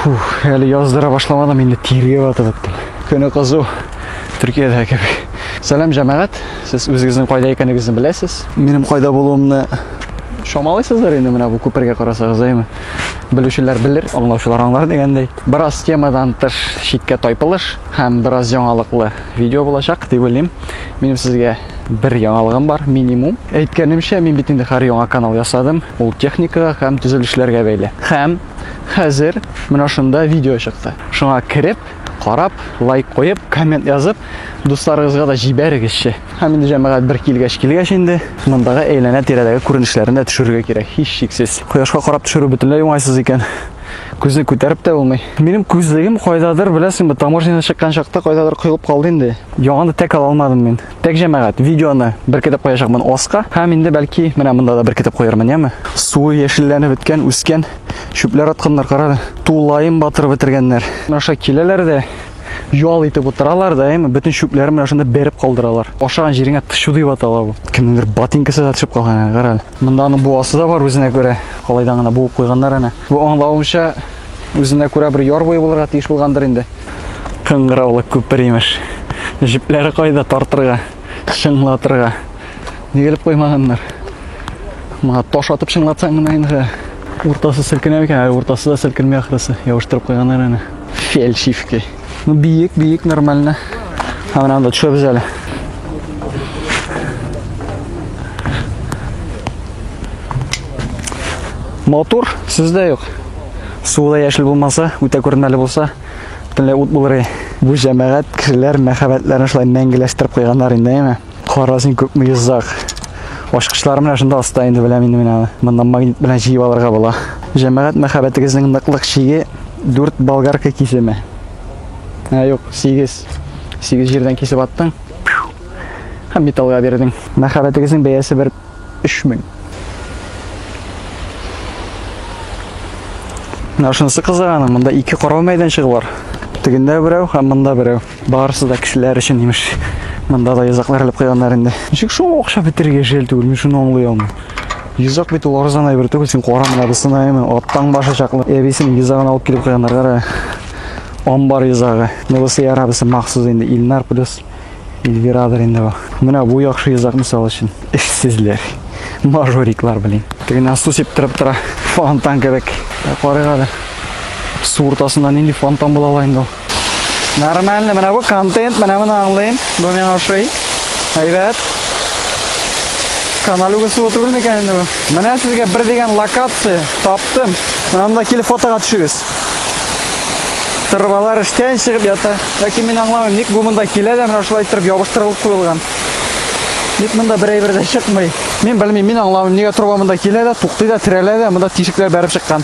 Фух, әле яздыра башламадым, инде тиргә батып беттем. Көне кызу. Төркиядә кебек. Сәлам җәмәгать. Сез үзегезнең кайда икәнегезне беләсез. Минем кайда булуымны шамалайсыздар инде менә бу күпергә карасагыз, әйме? Белүчеләр белер, аңлаучылар аңлар дигәндәй. Бераз темадан тыш читкә тайпылыш һәм бераз яңалыклы видео булачак дип уйлыйм. Минем сезгә бер яңалыгым бар, минимум. Әйткәнемчә, мин бит инде хәр яңа канал ясадым. Ул техникага һәм төзелешләргә бәйле. Һәм Хәзер менә шунда видео чыкты. Шуңа кереп, карап, лайк куеп, коммент язып, дусларыгызга да җибәрегезче. Һәм инде җәмәгать бер килгәч килгәч инде мондагы әйләнә тирәдәге күренешләрен дә төшерергә кирәк, һич шиксез. Кояшка карап төшерү бөтенләй уңайсыз икән. Күзне күтәреп тә булмый. Минем күзлегем кайдадыр, беләсеңме, таможнядан чыккан чакта кайдадыр коелып калды инде. Яңаны тәк ала алмадым мин. Так, җәмәгать, видеоны беркетеп куячакмын оска. Һәм инде бәлки менә монда да беркетеп куярмын, яме? Суы яшелләнеп беткән, үскән, чүпләр атканнар, карады. Тулаем батыр бетергәннәр. Аша киләләр дә ял итеп утыралар да, яме? Бөтен чүпләрен менә шунда бәреп калдыралар. Ашаган җиреңә тышу дип атала бу. Кемнеңдер ботинкасы да төшеп калган, әнә карале. Монда аның буасы да бар үзенә күрә. Калайдан гына буып куйганнар әнә. Бу аңлавымча, үзенә күрә бер яр буе булырга тиеш булгандыр инде. Кыңгыраулы күпер имеш. Җепләре кайда тартырга, чыңлатырга. Нигелеп куймаганнар. Моңа таш атып чыңлатсаң гына инде уртасы селкенә микән? Ә уртасы да селкенми ахрысы. Явыштырып куйганнар аны. Фельдшивки. Ну, биек, биек, нормально. А менә анда төшәбез әле. Мотор сездә юк. Суы да яшел булмаса, үтә күренмәле булса, бөтенләй ут булыр иде. Бу җәмәгать кешеләр мәхәббәтләрен шулай мәңгеләштереп куйганнар инде, әйме? Кара син күпме йозак. Ачкычлар менә шунда аста инде беләм инде мин аны. Моннан магнит белән җыеп алырга була. Җәмәгать мәхәббәтегезнең ныклык чиге 4 болгарка кисеме. Ә юк, 8. 8 җирдән кисеп аттың. Һәм металлга бирдең. Мәхәббәтегезнең бәясе бер Өч мең. Менә шунысы кызыганы, монда ике карау мәйданчыгы бар. Тегендә берәү һәм монда берәү. Барысы да кешеләр өчен имеш. Монда да йозаклар элеп куйганнар инде. Ничек шул акча бетерергә җәл түгел, мин шуны аңлый алмыйм. Йозак бит ул арзан әйбер түгел, син кара менә бусына әйме, аттан башы чаклы. Әбисенең йозагын алып килеп куйганнар, кара. Амбар йозагы. Монысы ярабысы махсус инде Илнар плюс Эльвирадыр инде бу. Менә бу яхшы йозак мисал өчен. Эшсезләр. Мажориклар белән. Тегенә су сиптиреп тора. Фонтан кебек. Карыйк әле. Су уртасында нинди фонтан була ала инде ул. Нормально, менә бу контент, менә моны аңлыйм. Бу миңа ошый. Әйбәт. Канал үгесе отурмы икән инде бу? Менә сезгә бер дигән локация таптым. Монда килеп фотога төшегез. Тырбалар эштән чыгып ята. Ләкин мин аңламыйм, ник бу монда килә дә менә шулай иттереп ябыштырылып куелган. Ник монда бер әйбер дә чыкмый? Мин белмим, мин аңламыйм, нигә труба монда килә дә, туктый да, терәлә дә, монда тишекләр бәреп чыккан.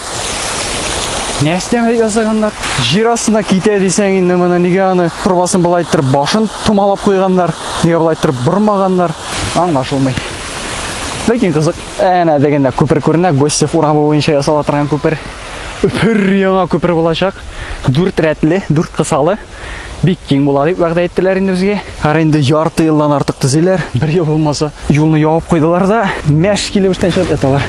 Нәрсә ясаганнар? Җир астына китә дисәң инде моны нигә аны трубасын болай иттереп башын томалап куйганнар? Нигә болай иттереп бормаганнар? Аңлашылмый. Ләкин кызык. Әнә дегендә күпер күренә, Гостев урамы буенча ясала торган күпер. пөр яңа күпер булачак. Дүрт рәтле, дүрт кысалы. Бик киң була дип вәгъдә иттеләр инде безгә. Ара инде ярты елдан артык төзиләр. Бер ел булмаса, юлны явып куйдылар да, мәш килеп эштән чыгып яталар.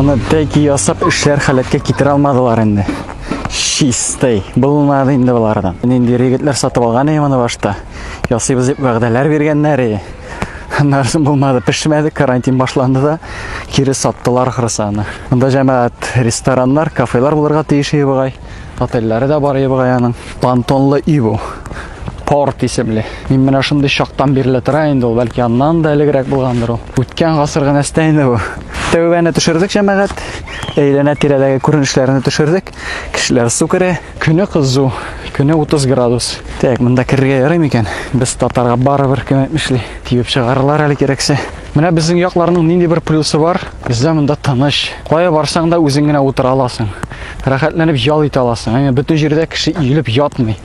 Моны тәки ясап эшләр халәткә китерә алмадылар инде. Чистый. Булмады инде булардан. Нинди регетләр сатып алган иде моны башта. Ясыйбыз дип вәгъдәләр биргәннәр иде. Нәрсен булмады, пешмәде, карантин башланды да, кире саттылар ахрысы аны. Монда җәмәгать рестораннар, кафелар булырга тиеш иде бугай. Отельләре дә бар иде бугай аның. Пантонлы өй бу. Порт исемле. Мин менә шундый чактан бирле тора инде ул, бәлки аннан да элегрәк булгандыр ул. Үткән гасыр гына инде бу. Тәүбәне төшердек җәмәгать. Әйләнә тирәдәге күренешләрне төшердек. Кешеләр су керә. Көне кызу, көне 30 градус. Так, монда керергә ярый микән? Без татарга барыбер кем әйтмешли. Тибеп чыгарырлар әле кирәксә. Менә безнең якларның нинди бер плюсы бар? Бездә монда тыныч. Кая барсаң да үзең генә утыра аласың. Рәхәтләнеп ял итә аласың. Әмма бөтен җирдә кеше иелеп ятмый.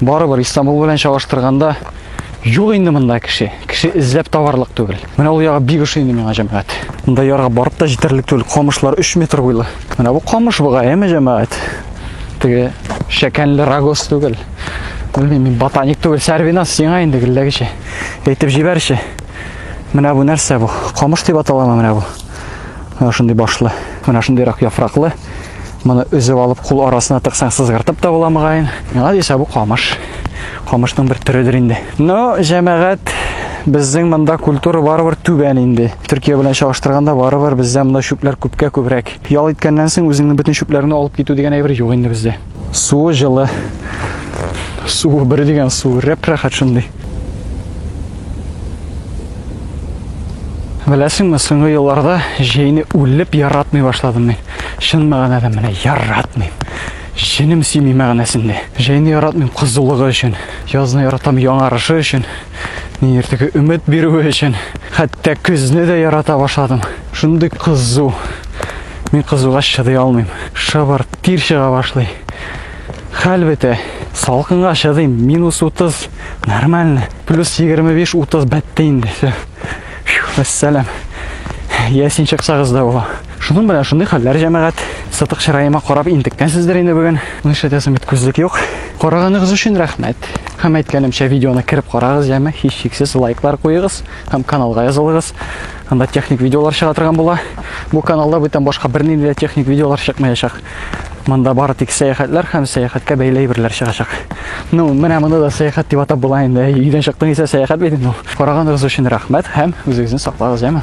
Барыбер Истанбул белән чагыштырганда юк инде монда кеше. Кеше эзләп табарлык түгел. Менә ул ягы бик ошый инде миңа җәмәгать. Монда ярга барып та җитәрлек түгел. Камышлар 3 метр буйлы. Менә бу камыш буга, әме җәмәгать. Теге шәкәнле рагоз түгел. Белмим, мин ботаник түгел. Сәрвинас сиңа инде гелләгече. Әйтеп җибәрче. Менә бу нәрсә бу? Камыш дип аталамы менә бу? Менә шундый башлы, менә шундыйрак яфраклы. Моны өзеп алып, кул арасына тыксаң, сызгыртып та була мөгаен. Миңа дисә бу камыш. Камышның бер төрөдер инде. Но, җәмәгать, безнең монда культура барыбер түбән инде. Төркия белән чагыштырганда барыбер бездә монда чүпләр күпкә күбрәк. Ял иткәннән соң үзеңнең бөтен чүпләреңне алып китү дигән әйбер юк инде бездә. Суы жылы. Суы бер дигән суы рәп рәхәт шундый. Беләсеңме, соңгы елларда җәйне үлеп яратмый башладым мин. Чын мәгънәдә менә яратмыйм. Җенем сими мәгънәсендә. Җәйне яратмыйм кызулыгы өчен, язны яратам яңарышы өчен, нидер теге өмет бирүе өчен. Хәтта көзне дә ярата башладым. Шундый кызу, Мин кызугач чыдый алмыйм. Шыбыр тир чыга башлый. Хәл бетә. Салкынга чыдыйм. Минус 30 нормально. Плюс 25-30 бетте инде. Все. Вәссәлам. Я син чыксагыз да була. Шуның белән шундый хәлләр җәмәгать. Сатык чыраема карап интеккәнсездер инде бүген. Моны эшләтәсем бит күзлек юк. Караганыгыз өчен рәхмәт. Һәм әйткәнемчә видеоны кереп карагыз, яме һичшиксез лайклар куегыз һәм каналга язылыгыз. Анда техник видеолар чыга торган була. Бу каналда бүтән башка бернинди дә техник видеолар чыкмаячак. Монда бары тик сәяхәтләр һәм сәяхәткә бәйле әйберләр чыгачак. Ну, менә моны да сәяхәт дип атап була инде. Өйдән чыктың исә сәяхәт бит инде. Караганыгыз өчен рәхмәт һәм үзегезне саклагыз, яме.